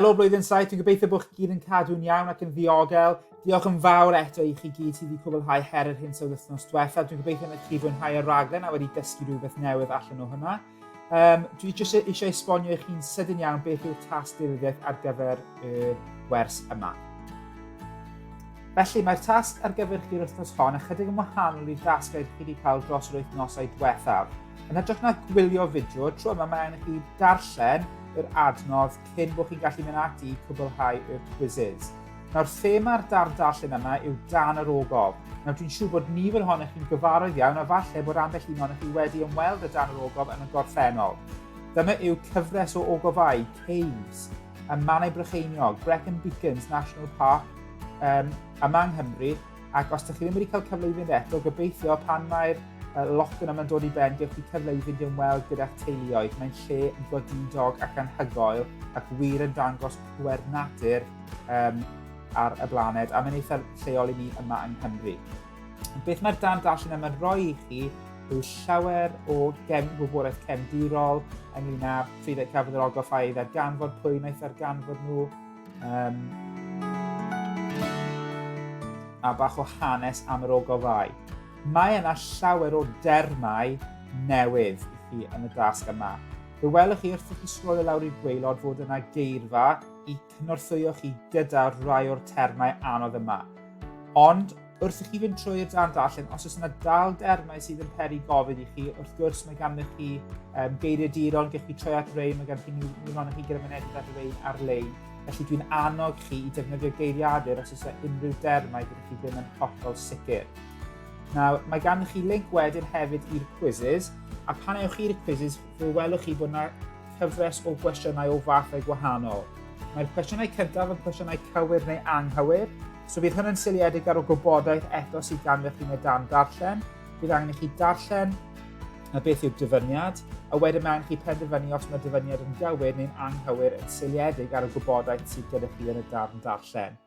Helo Blwyddyn Saith, dwi'n gobeithio bod chi gyd yn cadw'n iawn ac yn ddiogel. Diolch yn fawr eto i chi gyd sydd wedi cwblhau her yr hyn sydd wythnos diwethaf. Dwi'n gobeithio na chi fwynhau ar raglen a wedi dysgu rhywbeth newydd allan o hwnna. Um, dwi jyst e-, eisiau esbonio i chi'n sydyn iawn beth yw'r tas dirwyddiaeth ar gyfer y wers yma. Felly, mae'r tasg ar gyfer chi'r wythnos hon ychydig yn wahanol i'r dasgau chi wedi cael dros yr wythnosau diwethaf. Yn hytrach na gwylio fideo, tro yma mae angen i chi darllen yr adnodd cyn bod chi'n gallu mynd ati i cwblhau y quizzes. Nawr, thema'r darn darllen yma yw dan yr ogol. Nawr, dwi'n siŵr bod nifer ohonych chi'n gyfarwydd iawn a falle bod ambell un ohonych chi wedi ymweld â dan yr ogol yn y gorffennol. Dyma yw cyfres o ogofau, caves, y Mannau Brycheiniog, Brecon Beacons National Park, um, yma yng Nghymru, Ac os ydych chi ddim wedi cael cyfle i fynd eto, gobeithio pan mae'r lockdown yma'n dod i ben, gewch chi cyfle i fynd i'n weld gyda'ch teuluoedd. Mae'n lle yn godidog ac anhygoel ac wir yn dangos pwer natur um, ar y blaned a mae'n eitha lleol i ni yma yng Nghymru. Beth mae'r dan darllen yma'n rhoi i chi yw llawer o gem, gwybodaeth cefndirol ynglyn â pryd y cafodd yr ogof a'i ddarganfod, pwy wnaeth ddarganfod nhw, Um, a bach o hanes am yr ogofau. Mae yna llawer o dermau newydd i chi yn y dasg yma. Fe welwch chi wrth i chi sgrolio lawr i'r gweilod fod yna geirfa i cynorthwyo chi gyda rhai o'r termau anodd yma. Ond Wrth i chi fynd trwy'r dan darllen, os oes yna dal dermau sydd yn peri gofyn i chi, wrth gwrs mae ganddych chi um, geiriaduron, gech chi troi at rei, mae ganddych chi ni ohono chi gyda mynediad at rei ar-lein. Felly dwi'n annog chi i defnyddio geiriadur os oes unrhyw dermau gyda chi ddim yn hollol sicr. Nawr, mae ganddych chi link wedyn hefyd i'r quizzes, a pan ewch i'r quizzes, fe welwch chi bod yna cyfres o gwestiynau o fathau gwahanol. Mae'r cwestiynau cyntaf yn cwestiynau cywir neu anghywir, So bydd hynny'n seiliedig ar y gwybodaeth eto sydd ganddo chi o dan darllen. Bydd angen i chi darllen a beth yw'r dyfyniad, a wedyn mae angen chi penderfynu os mae dyfyniad yn gywir neu'n anghywir yn seiliedig ar y gwybodaeth sydd gyda chi yn y darn darllen.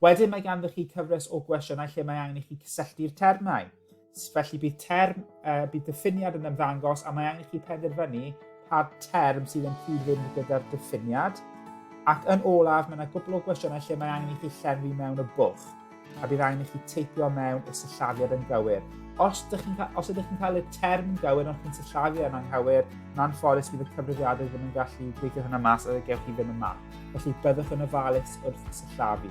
Wedyn mae ganddo chi cyfres o gwestiynau lle mae angen i chi cysylltu'r termau. Felly bydd term, uh, bydd diffiniad yn ymddangos a mae angen chi penderfynu pa term sydd yn cyd-fynd gyda'r diffiniad. Ac yn olaf, mae yna gwbl o gwestiynau lle mae angen i chi llenwi mewn y bwch a bydd angen i chi teipio mewn y sillafiad yn gywir. Os ydych chi'n cael, os ydych chi'n cael y term yn gywir ond chi'n sillafu yn anghywir, yn anffodus bydd y cyfrifiadur ddim yn gallu gweithio hynna mas a gewch chi ddim yn marc. Felly byddwch yn ofalus wrth sillafu.